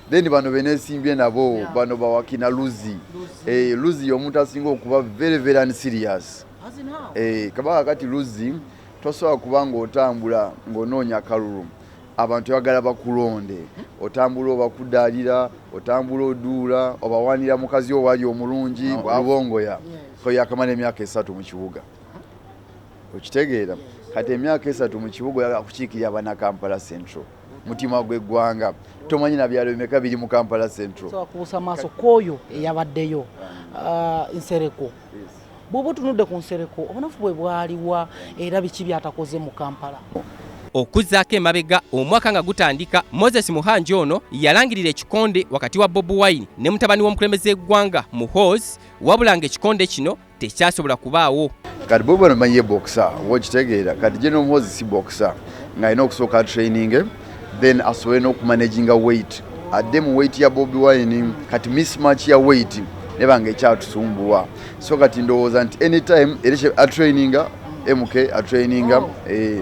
then bano benesimbye nabo yeah. bano bawakina luzi eh, luzi yomuntu asinga okuba very very unserious eh, kabaka kati luzi tosobola kuba ngaotambula ngaonoonya kalulu abantu bagala bakulonde otambula obakudalira otambula oduula obawanira mukazi owali omulungi abongoya koyakamala emyaka esatu mukibuga okitegeera kati emyaka esatu mukibuga yakukiikirira banakampala central mutima gw'eggwanga tomanyi na byalo bimeka biri mu kampala central kubusa maaso kwoyo eyabaddeyo uh, nsereko bwoba otunudde ku nsereko obunafu bwe bwaliwa era biki byatakoze mu kampala okuzzaako emabega omwaka nga gutandika moses muhanji ono yalangirira ekikonde wakati wa bobi wine ne mutabani w'omukulembeze gw'eggwanga muhoozi wabula nga ekikonde kino tekyasobola kubaawo kati bwoba nomanyi ye bokisa oba okitegeera kati gye nomuhozi si bokisa ng'alina okusooka atraininge then asobole n'okumanaginga weight adde mu weight ya bobi wine kati mismatch ya weight neba nga ekyatusumbuwa so kati ndowooza nti anytime era atraininga mk atraininga oh, eh.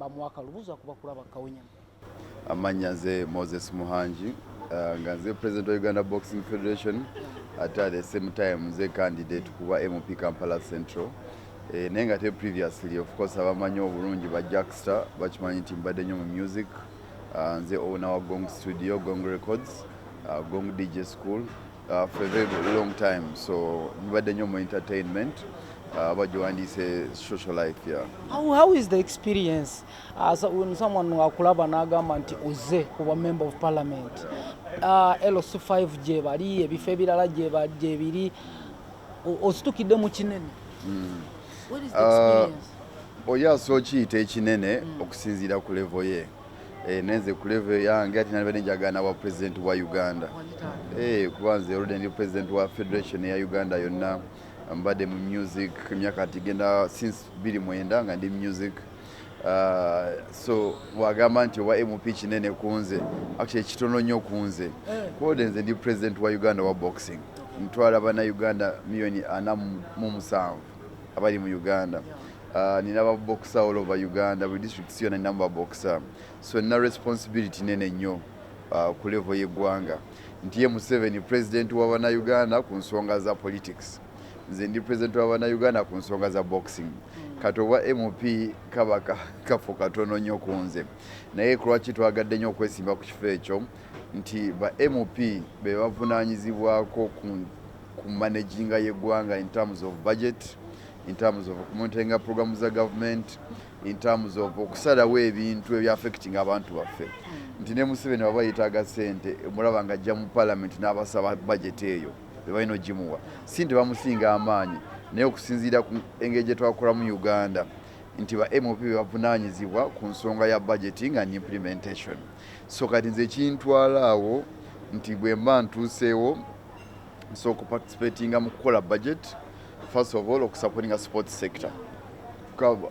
bamuwa kalubuzo akuba kulaba kawunyamu amannya nze moses muhangi uh, nga nze president wa uganda boxing federation ate at the same time nze candidate kuba mp kampala central eh, naye nga te previously of course abamanyi obulungi ba jackster bakimanyi nti mbadde nnyo mu music uh, nze owna wa gong studio gong records uh, gong dj school Uh, for a very long time so mbadde nnyo mu entertainment uh, aba gyewandiise social life yeah. how, how is the experience uh, so, when someone akulaba n'agamba nti oze kuba member of parliament uh, los 5 gyebali ebifo ebirala gyebiri ositukidde mu kinene mm. uh, oyo asooka kiyita ekinene mm. okusinziira ku levo ye Eh, nenze ku level yange ati nalibadde njagala nawa president wa uganda eh, kuba nze oludde ndi president wa federation ya uganda yonna mbadde mu music emyaka tigenda since biri mwenda nga ndi music ah, so wagamba nti owa mp kinene kunze actually kitono nnyo kunze eh. kuode nze ndi president wa uganda wa boxing ntwala bana uganda miliyoni ana mu musanvu abali mu uganda uh, nina babokisa all over uganda buli districts yona ninamu babokisa so nina responsibility nene nnyo uh, ku level yeggwanga nti ye museveni president wabanauganda ku nsonga za politics nze ndi president wabanauganda ku nsonga za boxing kati obwa mp kaba kafu katono nnyo ku nze naye kulwaki twagadde nnyo okwesimba ku kifo ekyo nti ba mp be bavunanyizibwako ku ku managinga y'eggwanga in terms of budget in terms of okumontenga programu za government in terms of okusalawo ebintu ebya affecting abantu baffe hmm. nti ne museveni waba yetaaga sente omulaba nga ajja mu parliament n'abasaba budget eyo bebalina ogimuwa si nti bamusinga amaanyi naye okusinziira ku engeri gye twakolamu uganda nti ba mop bebavunanyizibwa ku nsonga ya budgeting and implementation so kati nze ekintwalaawo nti bwemba ntuuseewo nsobola okuparticipatinga mu kukola budget first of all okusupportinga sport sector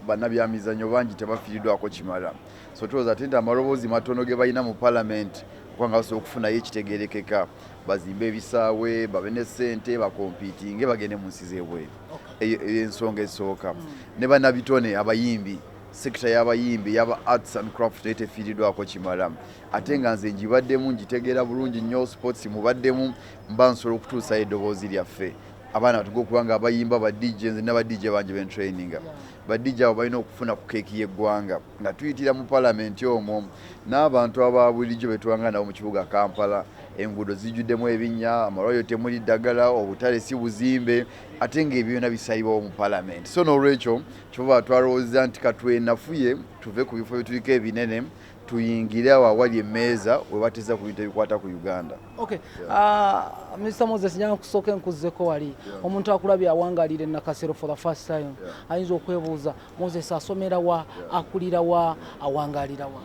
banabyamizanyo bangi tebafiridwako kimala so tuloza ate nti amaloboozi matono ge balina mu palamenti okubanga basobola okufunayo ekitegerekeka bazimbe ebisaawe babe ne sente bakompitinge bagende mu nsi zebweru eyo ensonga esooka hmm. ne banabitone abayimbi sekita y'abayimbi yaba arts and craft naye tefiiridwako kimala ate nga nze ngibaddemu ngitegeera bulungi nnyo sports mubaddemu mba nsobola okutuusayo eddoboozi lyaffe abaana batuga okuba nga abayimba ba dj nze naba dj bangi bentraininga ba dj abo balina okufuna ku keeki y'eggwanga nga tuyitira mu palamenti omwo n'abantu aba bulijjo betwanga nabo mu kibuga kampala enguudo zijjuddemu ebinnya amalwaliro temuli ddagala obutale si buzimbe ate ng'ebyo byona bisalibwawo mu palamenti so n'olwekyo kyova twalowooza nti katwenafuye tuve ku bifo byetuliko ebinene tuyingire awo awali emmeeza we bateza ku bintu ebikwata ku uganda okay. yeah. uh, mr moses njaga kusooka enkuzzeko wali yeah. omuntu akulabye awangalira enakasero for the first time yeah. ayinza okwebuuza moses asomera wa yeah. akulira wa awangalira wa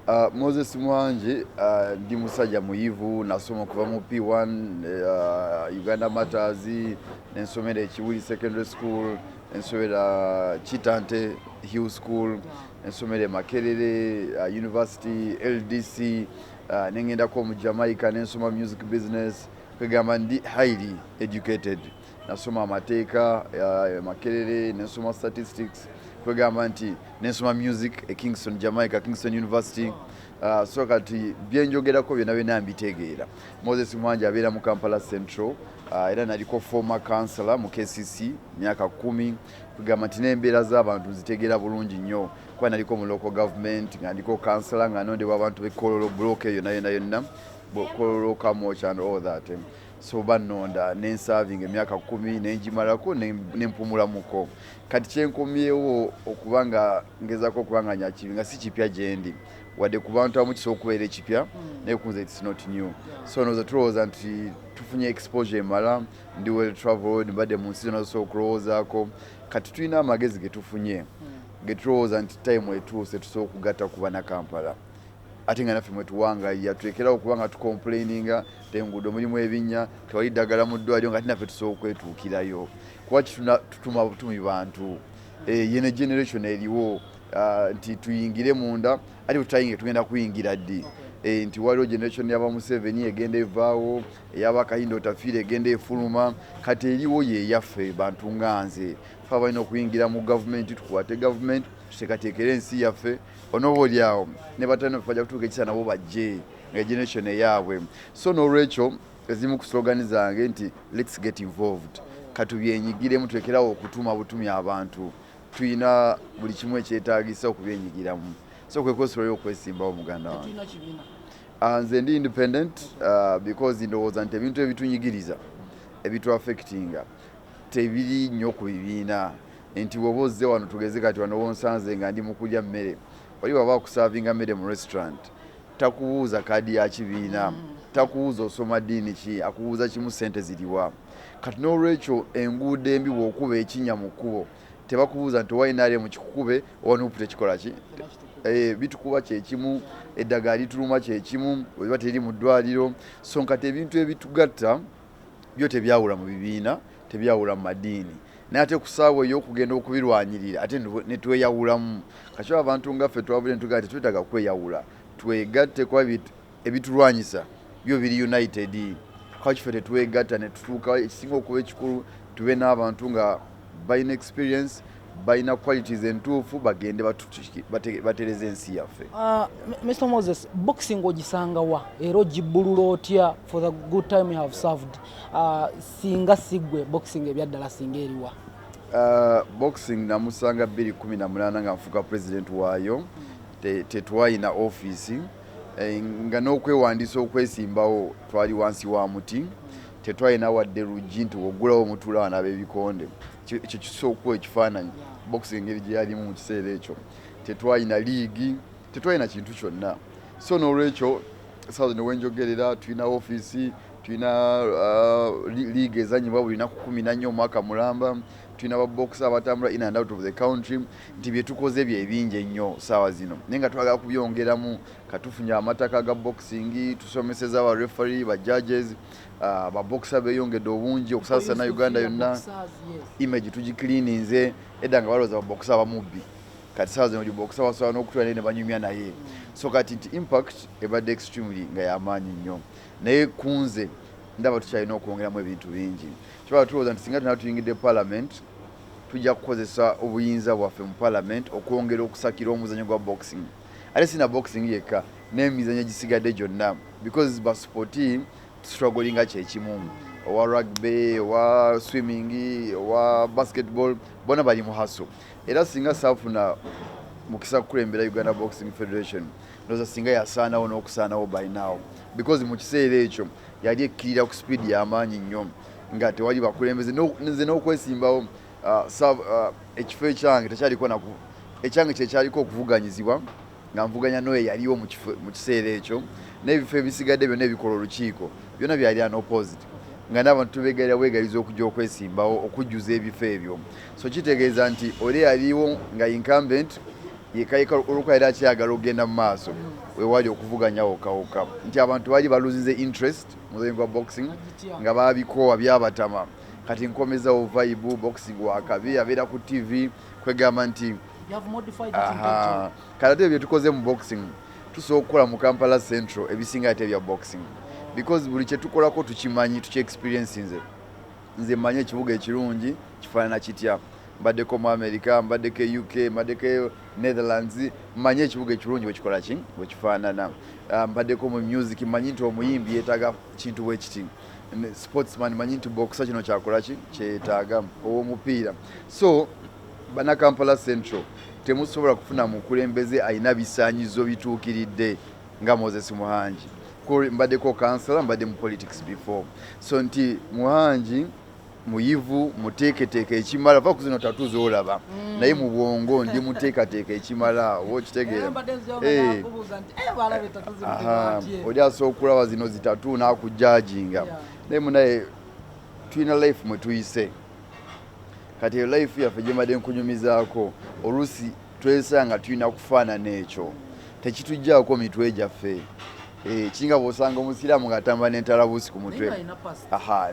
Uh, Moses Mwanji uh, ndi musajja muyivu nasoma okuva mu P1 uh, Uganda Matters nensomera ekiwuli secondary school ensomera Kitante Hill School ensomero e Makerere uh, University LDC uh, nengendako mu Jamaica nensoma music business kwegamba ndi highly educated nasoma amateeka uh, e Makerere nensoma statistics kwegamba nti nensoma music e Kingston Jamaica Kingston University uh, so kati byenjogerako byona byona mbitegeera Moses Mwanja abeera mu Kampala Central uh, era naliko former councilor mu KCC myaka kumi kwegamba nti n'embeera z'abantu nzitegeera bulungi nnyo kuba naliko mu local government nga ndiko kansala nga nondebwa abantu bekololo block eyo nayo nayo nna kololo kamoch and all that eh. so banonda nensavinga emyaka kumi nenjimalako nempumulamuko kati kyenkomyewo okuba nga ngezako okuba nga nyakibi nga si kipya gyendi wadde ku bantu abamu kisobola okubeera ekipya hmm. naye kunze its not new so noza tulowooza nti tufunye exposure emala ndi well traveled mbadde mu nsi zona zosobola okulowoozaako kati tulina amagezi ge tufunye hmm. ge tulowooza nti time etuuse tusobola okugatta ku banakampala ate nga naffe mwetuwangaiya tulekerawo okuba nga tukomplaininga te enguudo mulimu ebinnya tewali ddagala mu ddwaliro nga ate naffe tusobola okwetuukirayo kuba kitutuma butumi bantu hmm. eh, yene generation eriwo ah, nti tuyingire munda ate bwetutayinge tugenda kuyingira ddi eh, nti waliwo generation yaba museveni egenda evaawo eyaba kayindo otafiira egenda efuluma kati eriwo yeyaffe bantu nga nze fe abalina okuyingira mu gavumenti tukwate gavumenti tuteekateekera ensi yaffe onoba oli awo ne batano fe bajja kutuuka ekisa nabo bajje nga generation eyaabwe so n'olwekyo ezimu ku slogan zange nti lets get involved katubyenyigiremu tulekerawo okutuma butumi abantu tulina buli kimu ekyetagisa okubyenyigiramu so kwekwesobola okwesimbawo muganda wange Ah, nze ndi independent uh, because ndowooza nti ebintu ebitunyigiriza ebituafectinga tebiri nnyo ku bibiina nti woba ozze wano tugeze kati wano wonsanze nga ndi mukulya mmere oli waba akusavinga mmere mu restaurant takubuuza kaadi ya kibiina takubuuza osoma ddiini ki akubuuza kimu sente ziriwa kati n'olwekyo enguudo embi bwokuba ekinya mu kkubo tebakubuuza nti owa nrm kikukube owa nup tekikola ki eh, bitukuba kyekimu eddagala lituluma kyekimu oba teri mu ddwaliro so nkati ebintu ebitugatta byo tebyawula mu bibiina tebyawula mu madiini naye ate kusaawa eyokugenda okubirwanyirira ate netweyawulamu kakyo abantu ngaffe twabule ntugaa tetwetaga kweyawula twegatte kuba ebitulwanyisa byo biri united kaki fe tetwegatta netutuuka ekisinga okuba ekikulu tube n'abantu nga balina experience balina qualities entuufu bagende batereza ensi yaffe ah, mr moses boxing ogisanga wa era ogibbulula otya for the good time you have served ah, singa sigwe boxing ebyaddala singa eriwa Uh, boxing namusanga 218 nga nfuka president waayo tetwayina office eh, nga n'okwewandiisa okwesimbawo twali wansi wa muti tetwalina wadde luggi nti woggulawo omutuula wano ab'ebikonde ekyo kisookuwa ekifaananyi bokisi engeri gye yalimu mu kiseera ekyo tetwalina liigi tetwalina kintu kyonna so n'olwekyo sawa ne wenjogerera tulina ofiisi tulina uh, liigi ezanyibwa buli naku kumi nannya omwaka mulamba tulina babokisi abatambula in and out of the country nti bye tukoze bye bingi ennyo saawa zino naye nga twagala kubyongeramu katufunye amataka ga boxing tusomeseza ba referee ba judges uh, ba boxer beyongedde obungi okusasana uganda yonna image tugicleaninze edda nga balowooza baboxer bamubbi kati saawa zino liboxer basobola n'okutula naye ne banyumya naye so kati nti impact ebadde extremely nga yamaanyi nnyo naye kunze ndaba tukyalina okwongeramu ebintu bingi kyoba tulowooza nti singa tuna tuyingidde parliament Tujja kukozesa obuyinza bwaffe mu Palamenti okwongera okusakira omuzannyo gwa boxing ate si na boxing yekka n'emizannyo egisigadde gyonna because ba supporti tustruglinga kye kimu owa rugby owa swimming owa basketball bona bali mu haso era singa saafuna mukisa kukulembera Uganda Boxing Federation ndoza singa yasaanawo n'okusaanawo by now because mu kiseera ekyo yali ekkirira ku speed y'amaanyi nnyo. nga tewali bakulembeze nze n'okwesimbawo ah, ah, ekifo ekyange tekyaliko naku ekyange kyekyaliko okuvuganyizibwa nga nvuganya noyo yaliwo mu kiseera ekyo n'ebifo ebisigadde byonna ebikola olukiiko byonna byali anopposite nga n'abantu tubegalira bwegaliza okujja okwesimbawo okujjuza ebifo ebyo so kitegeeza nti oli yaliwo nga incumbent yekayeka olwokuba yali akyagala okugenda mu maaso wewali okuvuganya wokawoka nti abantu bali baluzinze interest mulimu gwa boxing nga babikoowa byabatama kati nkomezawo vibe boxing wakabi abeera ku tv kwegamba nti kati ate byetukoze mu boxing tusobola okukola mu kampala central ebisinga ate bya boxing because buli kyetukolako tukimanyi tukyexperiensi nze nze manyi ekibuga ekirungi kifaanana kitya mbaddeko mu america mbaddeko e uk mbaddeko Netherlands manyi ekibuga ekirungi bwekikola ki bwekifaanana ah, mbaddeko mu music manyi nti omuyimbi yeetaaga kintu bwekiti sportsman manyi nti bokusa kino kyakola ki kyetaaga owomupiira so banakampala central temusobola kufuna mukulembeze alina bisanyizo bituukiridde nga moses muhangi mbaddeko kansala mbadde mu politics before so nti muhangi muyivu muteeketeeka ekimala va kuzino tatu zolaba mm. naye mu bwongo ndi muteekateeka ekimala oba okitegeera eh. eh, oli asobola okulaba zino zitatu nakujajinga naye munaye tulina life mwetuyise kati eyo life yaffe gyembadde nkunyumizaako oluusi twesanga tulina kufaanana ekyo tekitujjaako mitwe gyaffe eh, kinga bwosanga omusiraamu ng'atambula n'entalabuusi ku mutwe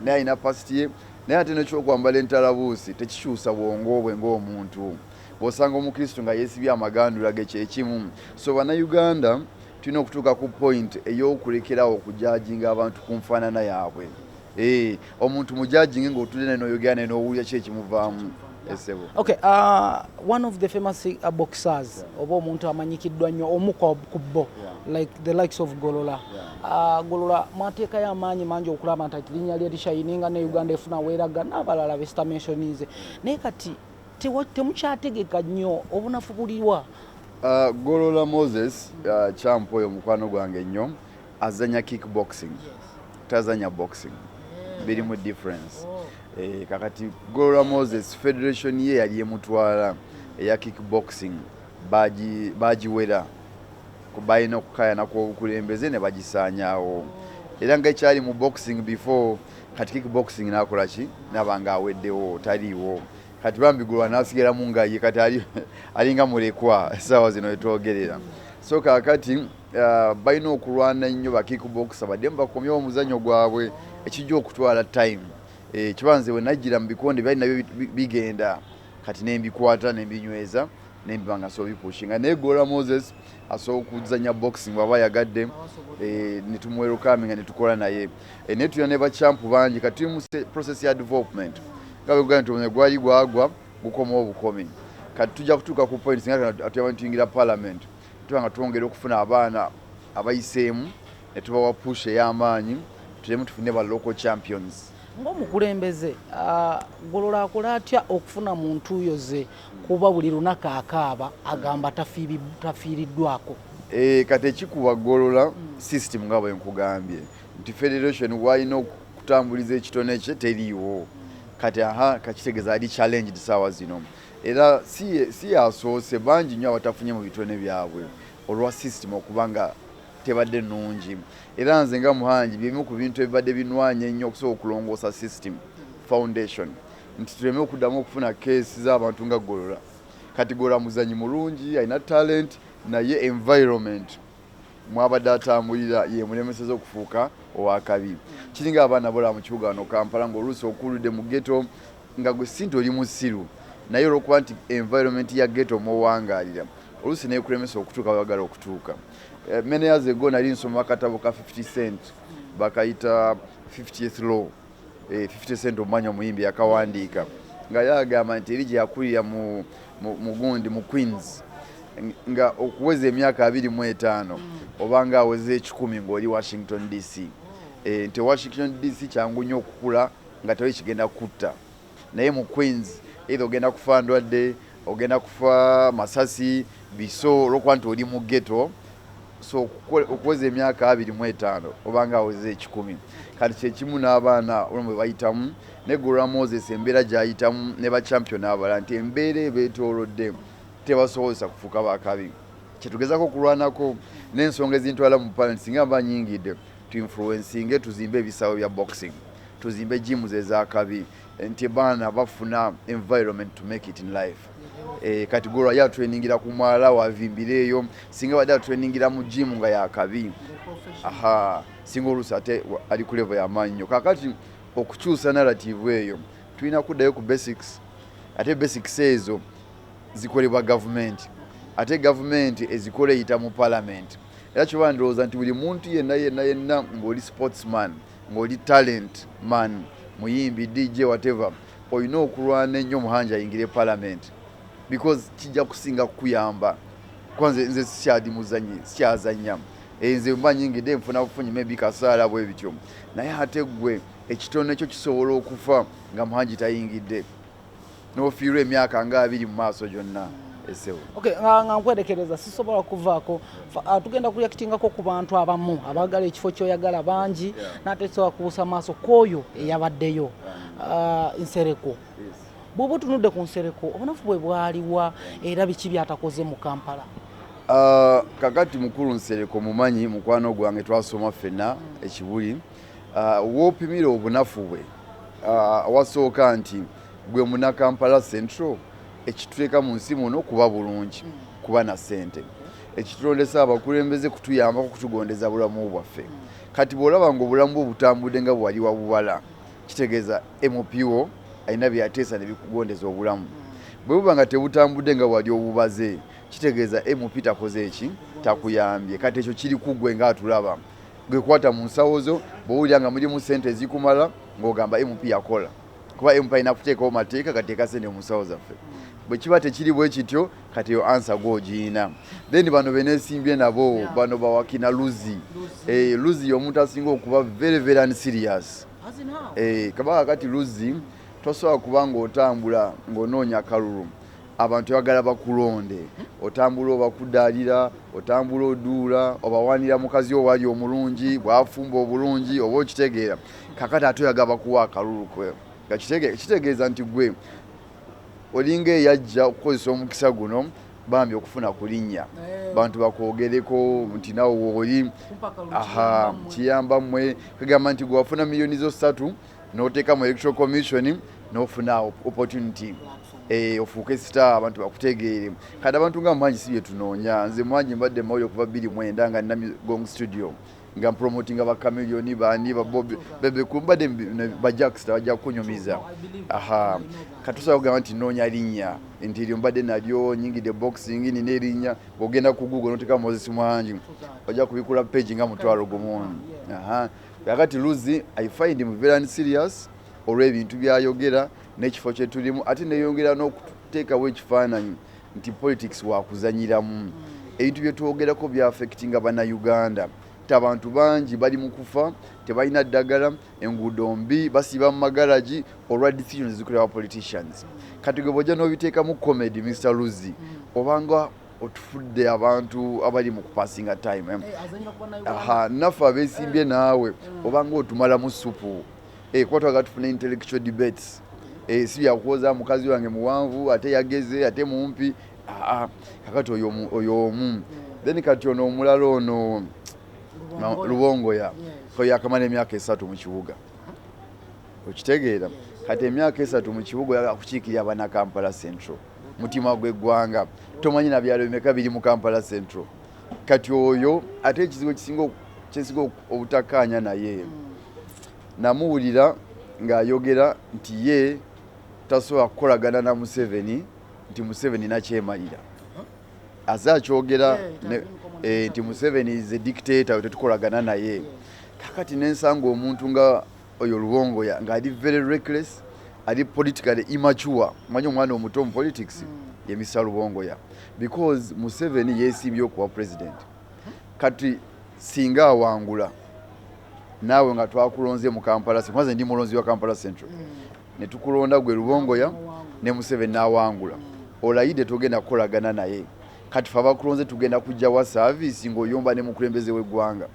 naye alina pasiti ye naye ate nekyokwambala entalabuusi tekikyusa bwongo bwe ng'omuntu bwosanga omukristu nga yeesibye amagandula ge kyekimu so bannayuganda tulina okutuuka ku point ey'okulekerawo okujajinga abantu ku nfaanana yaabwe Eeh omuntu mu judging nga otude naye noyogera naye nowulira ki ekimuvamu esebo. Eh, okay, uh, one of the famous uh, boxers yeah. oba omuntu amanyikiddwa nnyo omu ku bo yeah. like the likes of Golola. Yeah. Uh, Golola mateeka ya maanyi mangi okulaba nti linnya lye lishayininga ne Uganda efuna weeraga n'abalala be sitamenshonize. Naye kati temukyategeka nnyo obunafu buliwa? Uh, Golola Moses uh, champ oyo mukwano gwange nnyo. azanya kick boxing tazanya boxing biri mu difference oh. eh, kakati golwa moses federation ye yali emutwala eya kick boxing bagiwera balina okukayana kwobukulembeze ne bagisaanyawo era nga ekyali mu boxing before kati kick boxing nakola ki naba nga aweddewo taliiwo kati bambi gulwa nasigalamu ngaye kati alinga mulekwa esaawa zino etwogerera so kakati Uh, balina okulwana nnyo bakikubokisa badde mubakomyewo omuzanyo gwabwe ekijja okutwala time eh, kiba nze wenajjira mu bikonde byali nabyo bigenda kati nembikwata nembinyweza nembiba nga nsobola bipushinga naye gola moses asobola okuzanya boxing waba ayagadde eh, netumuwerukami nga netukola naye eh, naye tulina ne bacampu bangi kati tuli mu process ya development nga bekugaa nti omuzanyo gwali gwagwa gukomawo obukomi kati tujja kutuuka ku points nga atuyaba nituyingira palamenti Tuba nga twongera okufuna abaana abayiseemu ne tubawa push ey'amaanyi tulemu tufune ba local champions. Ng'omukulembeze ah, Golola akola atya okufuna mu ntuuyo ze kuba buli lunaku akaaba agamba tafiiriddwako? Eh, kati ekikuba Golola hmm. system nga bwe nkugambye nti federation walina okutambuliza ekitone kye teriiwo kati aha kakitegeza ali challenged saawa zino Era si y'asoose, bangi nnyo abatafunye mu bitone byabwe olwa sisitimu okuba nga tebadde nnungi. Era nze nga Muhangi bye bimu ku bintu ebibadde binwanye ennyo okusooka okulongoosa sisitimu, foundation, nti tuleme okuddamu okufuna kkeesi z'abantu nga Golola. Kati Golola muzannyi mulungi, alina talenti naye environment mw'abadde atambulira y'emulemesezza okufuuka ow'akabi. Kiringa abaana abalala mu kibuga wano Kampala ng'oluusi okuuludde mu ghetto Nga gwe Cynthia oli musiru naye olwokuba nti environment ya ghetto mwowangalira oluusi nekulemesa okutuuka webagala okutuuka. Eh, many years ago nali nsoma akatabo ka 50 cent bakayita 50th law 50 eh, cent omumanya omuyimbi yakawandiika nga yagamba nti eri gyeyakulira mu mugundi mu queens nga okuweza emyaka abiri mu etaano oba nga aweza ekikumi ngaoli washington dc eh, nti washington dc kyangu nnyo okukula nga tewali kigenda kutta naye mu queens either ogenda kufa ndwadde ogenda kufa masasi biso olwokuba nti oli mu geto so okuweza emyaka abiri mu etaano obanga aweza ekikumi kati kyekimu n'abaana olwo bwe bayitamu ne gura moses embeera gyayitamu ne bachampion abala nti embeera ebeetoolodde tebasobozesa kufuuka bakabi kyetugezako okulwanako n'ensonga ezintwala mu palenti singa mba nyingidde tuinfluensinge tuzimbe ebisaawe bya boxing Tuzimbe gyms ezakabi nti ebaana bafuna environment to make it in life eh, kati gwe olwayo atreningira ku mwala wavimbira eyo singa badde atreningira mu jimu nga yakabi aha singa oluusi ate ali ku levo yamaanyi nyo kakati okukyusa narrative eyo tulina kuddayo ku basics ate basics ezo zikolebwa gavumenti ate gavumenti ezikola eyita mu palamenti era kyoba ndowooza nti buli muntu yenna yenna yenna ngaoli sportsman ngoli talent man muyimbi DJ whatever olina okulwana ennyo muhanji ayingire parliament because kijja kusinga kukuyamba kwanze nze sikyadi muzanyi sikyazanya eh, nze mba nyingide nfuna bufunyi maybe kasaala bwe bityo naye ate gwe ekitono ekyo kisobola okufa nga muhanji tayingidde n'ofiirwa emyaka nga abiri mu maaso gyonna esewo okay, nga, nga nkwerekereza sisobola kuvaako ah, tugenda kuyakitingako ku bantu abamu abagala ekifo kyoyagala bangi yeah. nate sobola kubuusa maaso kwoyo eyabaddeyo ah, nsereko bwoba otunudde ku nsereko obunafu bwe bwaliwa era biki byatakoze mu kampala ah, kakati mukulu nsereko mumanyi mukwano gwange twasoma ffenna ekibuli Ah, wopimira obunafu bwe ah, wasooka nti gwe munakampala central ekituteeka mu nsi muno kuba bulungi mm. kuba na sente ekitulondesa abakulembeze kutuyambako kutugondeza bulamu bwaffe mm. kati bwolaba nga obulamu bwe butambudde nga bwewali wabubala kitegeeza mpo alina byateesa nebikugondeza obulamu mm. bwe buba nga tebutambudde nga wali obubaze kitegeeza mp takoze eki takuyambye kati ekyo kiri kugwe ngaatulaba gwe kwata mu nsawo zo bwowulira nga mulimu sente ezikumala ng'ogamba mp yakola kuba mp alina kuteekawo mateeka gateeka sente mu nsawo zaffe bwe kiba tekiri bwe kityo kati eyo ansa gwe ogiyina then bano benesimbye nabo bano bawakina luzi eh, luzi yomuntu asinga okuba very very unserious eh, kabaka kati luzi tosobola kuba ng'otambula ng'onoonya kalulu Abantu bagala bakulonde otambula obakudaalira, otambula oduula, obawaanira mukazi wo waali omulungi, bwafumba obulungi oba okitegeera. Kakati ate oyaga bakuwa akalulu kwe nga kitegeeza nti gwe olinga eyajja okukozesa omukisa guno bambi okufuna ku linnya eh. bantu bakwogereko nti nawe wooli kiyamba mmwe kagamba nti gwewafuna miliyoni zo ssatu noteeka mu electoral commission nofuna opportunity eh, ofuuke sita abantu bakutegeere kati abantu nga mwangi si byetunoonya nze mwangi mbadde mawuli okuva bbiri mwenda nga nina gong studio nga mpromotinga bakamilioni bani babobi bebekumbadde bajaksita bajja kukunyumiza aha katusobola kugamba nti noonya linnya nti eryo mbadde nalyo nyingide boxing nina erinnya ogenda ku google noteka moses mwangi ojja kubikula page nga mutwalo gumu aha kakati luzi i find him very unserious olw'ebintu byayogera n'ekifo kye tulimu ate neyongera n'okuteekawo ekifaananyi nti politics wakuzanyiramu ebintu bye twogerako byafekitinga bannayuganda nti abantu bangi bali mu kufa tebalina ddagala enguudo mbi basiiba mu magaragi olwa decisions zikolebwa politicians kati gwe bwojja n'obiteekamu comedy mr luzi obanga otufudde abantu abali mu kupasinga time eh, naffe abesimbye naawe mm. obanga otumalamu supu eh, kuba twagala tufuna intellectual debates eh, si byakuwoza mukazi wange muwanvu ate yageze ate mumpi kakati oyo omu mm. then kati ono omulala ono lubongoya oyo yakamala emyaka esatu mu kibuga okitegeera kati emyaka esatu mu kibuga yakukiikirira abana kampala central mutima gw'eggwanga tomanyi na byalo bimeka biri mu kampala central kati oyo ate ekizibu ekisinga kyensinga obutakkaanya naye hmm. namuwulira ng'ayogera nti ye tasobola kukolagana na museveni nti museveni nakyemalira aze akyogera eh, eh, nti museveni is a dictator tetukolagana naye kakati nensanga omuntu nga Oyo Lubongoya nga ali very reckless, ali politically immature. Manyi omwana omuto mu politics ye Mr Lubongoya because Museveni yesimbye okuwa president. Kati singa awangula naawe nga twakulonze mu Kampala Central, nze ndi mulonzi wa Kampala Central, ne tukulonda gwe Lubongoya ne Museveni n'awangula, olayidde togenda kukolagana naye. Kati ffe abakulonze tugenda kujja wa service ng'oyomba ne mukulembeze w'eggwanga.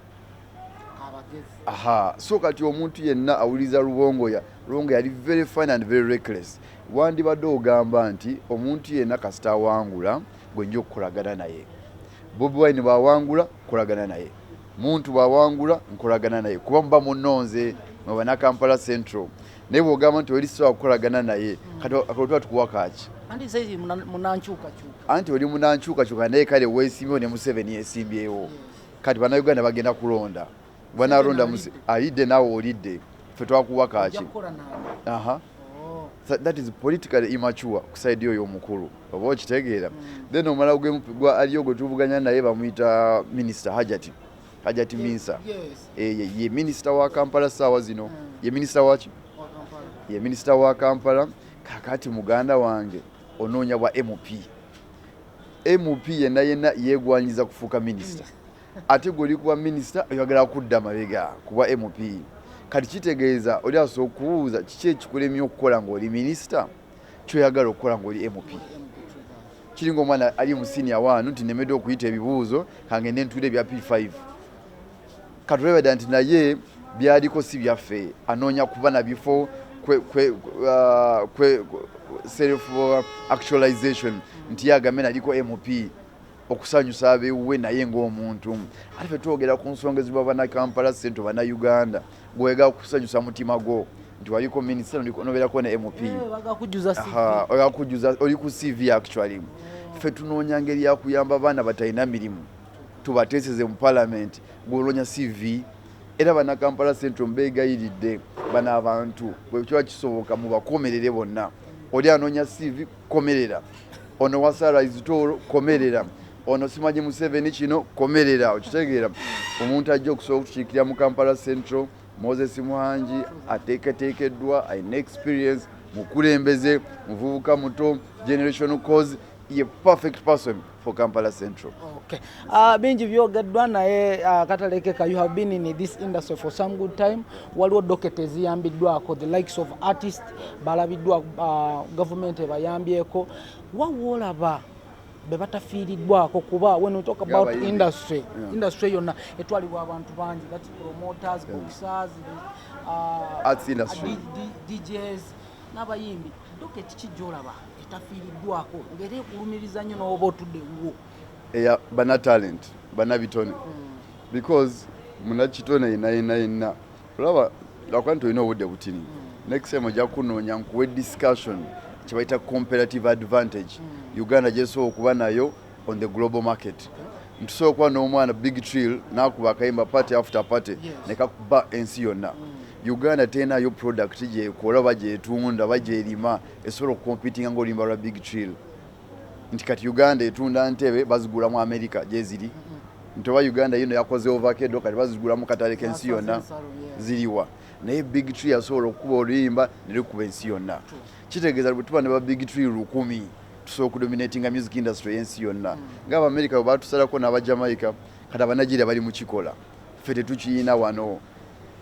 aha so kati omuntu yenna awuliriza lubongoya lubongo yali very fine and very reckless wandibadde ogamba nti omuntu yenna kasita awangula gwenja okukolagana naye bobi wine bwawangula kukolagana naye muntu bwawangula nkolagana naye kuba muba munonze mwebanakampala central naye bwogamba nti oli sisobola kukolagana naye kati akotuba tukuwa kaki anti oli munankyukakyuka naye kale wesimbewo ne museveni esimbyewo kati banauganda bagenda kulonda banalonda alidde nawe olidde fe twakuwa kaki oh. that is politically immature kusaidi oyo omukulu oba okitegeera hmm. then omala gwa aliyo gwe tuvuganya naye bamuyita minisita hajati hajati minsa eh, ye minisita wa kampala saawa zino hmm. ye minisita waki ye minisita wa kampala kakati muganda wange onoonya bwa mp Nup yenna yenna yegwanyiza kufuuka minister ate gwe oli kuba minister oyagala kudda mabega kubwa nup kati kitegeeza oli asobola okubuuza kiki ekikulemye okukola ng'oli minister kyoyagala okukola ng'oli nup kiringa omwana ali mu senior one nti nemedde okuyita ebibuuzo kange nentuula ebya p5 katulebeda nti naye byaliko si byaffe anoonya kuba na bifo kwe, kwe, uh, kwe self actualization nti yagambe naliko mp okusanyusa abewuwe naye ngaomuntu ate fe twogera ku nsonga eziba banakampala sente banauganda gwega kusanyusa mutima gwo nti waliko minisita nobeerako ne mp eh, oli ku cv actually fe tunoonya ngeri yakuyamba baana batalina mirimu tubateeseze mu palamenti gwonoonya cv era banakampala central mbeegayiridde bano abantu bwekiba kisoboka mubakomerere bonna oli anoonya cv komerera ono wasaraizitoolo komerera ono simanyi museveni kino komerera okitegeera omuntu ajja okusobola okukiikirira mu kampala central moses muhangi ateeketeekeddwa alina experience mukulembeze muvubuka muto generation cause ye perfect person for Kampala Central. Okay. Uh, bingi byogeddwa naye uh, ah, katalekeka you have been in this industry for some good time waliwo doketa eziyambiddwako the likes of artist balabiddwa uh, government ebayambyeko wawoolaba bebatafiiriddwako kuba when we talk about yeah, industry yeah. industry yonna etwalibwa abantu bangi that promoters yeah. boxers uh, arts industry uh, DJs n'abayimbi doketi kijjolaba etafiiriddwako ngeri ekulumiriza nnyo n'oba otudde wuwo eya bana talent bana bitone hmm. because munakitone yena yena yena olaba lwakuba nti olina obudde butini hmm. next time ojja kunoonya nkuwe discussion kyebayita comparative advantage hmm. uganda gyesobola okuba nayo on the global market ntusobola okuba n'omwana big trill nakuba akayimba party after party nekakuba ensi yonna uganda tenayo product gyekola oba gyetunda oba gyerima esobola okukompitinga ngaoluyimba lwa big chill nti kati uganda etunda ntebe bazigula mu america gyeziri mm-hmm. nti oba uganda yino yakoze ovakedo kati bazigula mu katale kensi yonna ziriwa naye big tree yasobola okukuba oluyimba nelikuba ensi yonna kitegeeza bwe tuba ne ba big tree lukumi tusobola okudominatinga music industry yensi yonna mm. ngaabamerika bwe batusalako n'abajamaica kati abanigeria bali mukikola ffe tetukiyina wano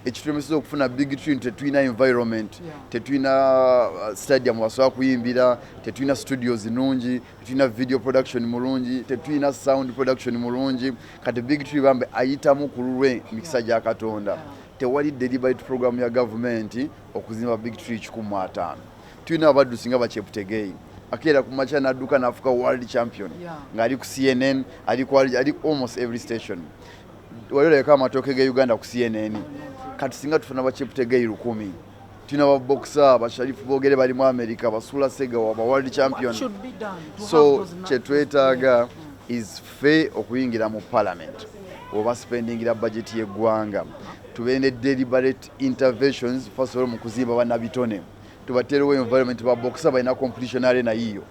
ekitulemeseza okufuna big tune tetulina environment tetulina uh, stadium wasobola kuyimbira tetulina studios nungi tetulina video production mulungi tetulina sound production mulungi kati big tune bambe ayitamu ku lulwe mikisa gya katonda tewali deliberate program ya gavumenti okuzimba big tree kikumu ataano tulina abaddusi nga bakyeputegeyi akeera ku makya n'adduka n'afuka world champion ng'ali ku cnn ali almost every station wali olabika amatooke ge uganda ku cnn kati singa tufuna bakiputegeyi lukumi tulina babokisa basharifu bogere bali mu america basula segawa ba world champion so kyetwetaaga is fe okuyingira mu parliament oba spendingira bajeti yeggwanga tube ne deliberate interventions fasobola mu kuzimba banabitone tubateerewo environment babokisa balina competition arena yiyo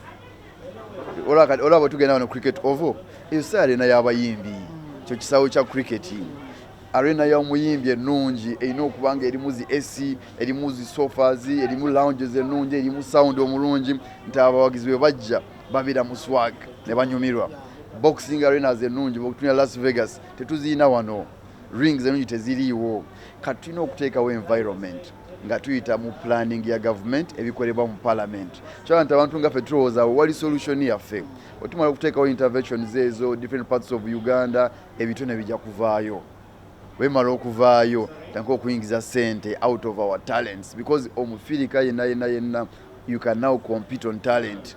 olaba bwetugenda wano cricket ovo eyo si arena y'abayimbi kyo kisawo kya cricket arena ya omuyimbi ennungi erina okuba nga erimu zi ac erimu zi sofas erimu lounges ennungi erimu sound omulungi nti abawagizi bwe bajja babeera mu swag ne banyumirwa boxing arenas ennungi bwetunya las vegas tetuzirina wano rings ennungi teziriiwo kati tulina okuteekawo environment nga tuyita mu planning ya government ebikolebwa mu parliament kyala nti abantu nga fe tulowooza awo wali solution yaffe otumala okuteekawo interventions ezo different parts of uganda ebitone bijja kuvaayo wemala okuvaayo tanka okuyingiza sente out of our talents because omufirika yenna yenna yenna you can now compete on talent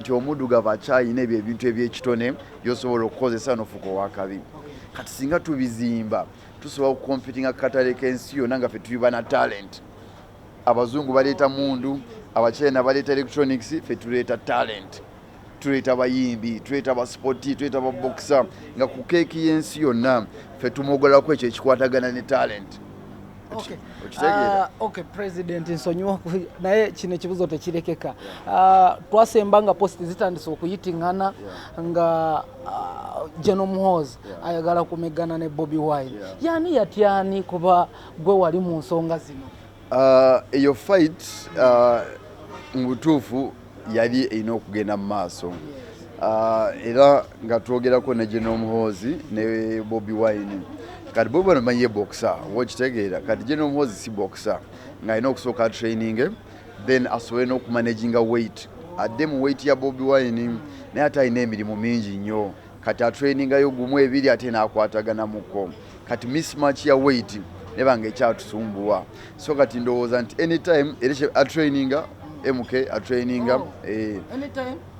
nti omuddugavu akyalina ebyo ebintu ebyekitone byosobola okukozesa nofuuka owakabi kati singa tubizimba tusobola okukompitinga kukatale kensi yona nga fe tuli bana talent abazungu baleeta mundu abachina baleeta electronics fe tuleeta talent tuleeta bayimbi tuleeta baspoti tuleeta baboxer nga ku keeki yensi yonna fe tumogolaku ekyo ekikwatagana ne talent Ah, ok president nsonyiwa naye kino ekibuzo tekirekeka ah, twasemba nga post zitandise okuyitingana nga ah, geno muhoozi ayagala kumegana ne bobi wine yani yatyani kuba gwe wali mu nsonga zino eyo fight mu butuufu yali erina okugenda mu maaso ah, era nga twogerako ne gye n'omuhoozi ne bobi wine kati bobi wine omanyi ye bokisa oba okitegeera kati gye n'omuhoozi si bokisa ng'alina okusooka atraininge then asobole n'okumanaginga weight adde mu weight ya bobi wine naye ate alina emirimu mingi nnyo kati atrainingayo gumu ebiri ate nakwatagana muko kati mismatch ya weight nebanga ekyatusumbuwa so kati ndowooza nti anytime era atraininga mk atraininga oh. eh.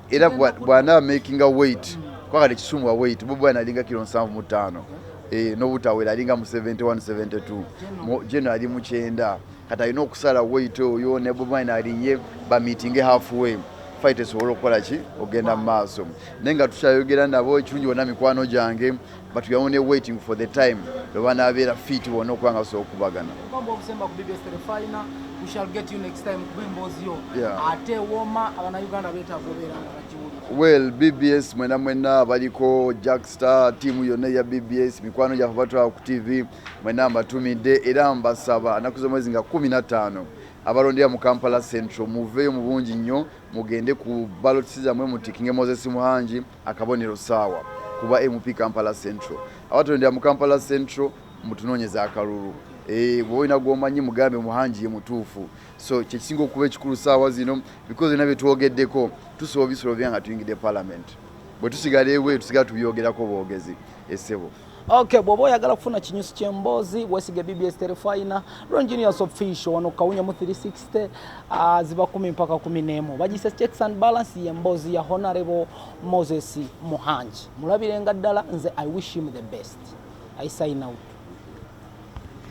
era bwana makinga weight kwakati kisumbuwa weight bobi alinga kiro nsanvu mu ttaano eh, nobutawera alinga mu 71 72 jeno ali mukyenda Kati alina okusala wait oyo ne Bobi Wine alinye ba meetinge half way fight esobole okukola ki ogenda mu maaso naye nga tukyayogera nabo ekirungi bona mikwano gyange but we are only waiting for the time lwe banaabeera fit bona okuba nga sobola okubagana well bbs mwena mwena abaliko jackstar tiimu yonna eya bbs mikwano gyaffe batwala ku tv Mwena mbatumidde era mbasaba naku zomwezi nga kumi na taano abalondera mu Kampala Central muveyo mubungi nnyo mugende ku balotisi zamwe mutikinge Moses Muhangi akabonero saawa kuba MP Kampala Central abatondera mu Kampala Central mutunonyeza akalulu eh, bwoba olina gwomanyi mugambe muhangi ye mutuufu so kyekisinga okuba ekikulu saawa zino bikozi byona byetwogeddeko tusobola obisolo bya nga tuyingidde palamenti bwetusigala ewe tusigala tubyogerako bwogezi esebo Okay, bwoba oyagala kufuna kinyusi kyemboozi wesige bbs terefina longenius official wano kawunya mu 360 uh, ziba kumi mpaka kumi nemu bagise checks and balance yemboozi ya honorable moses muhangi mulabirenga ddala nze i wish him the best i sign out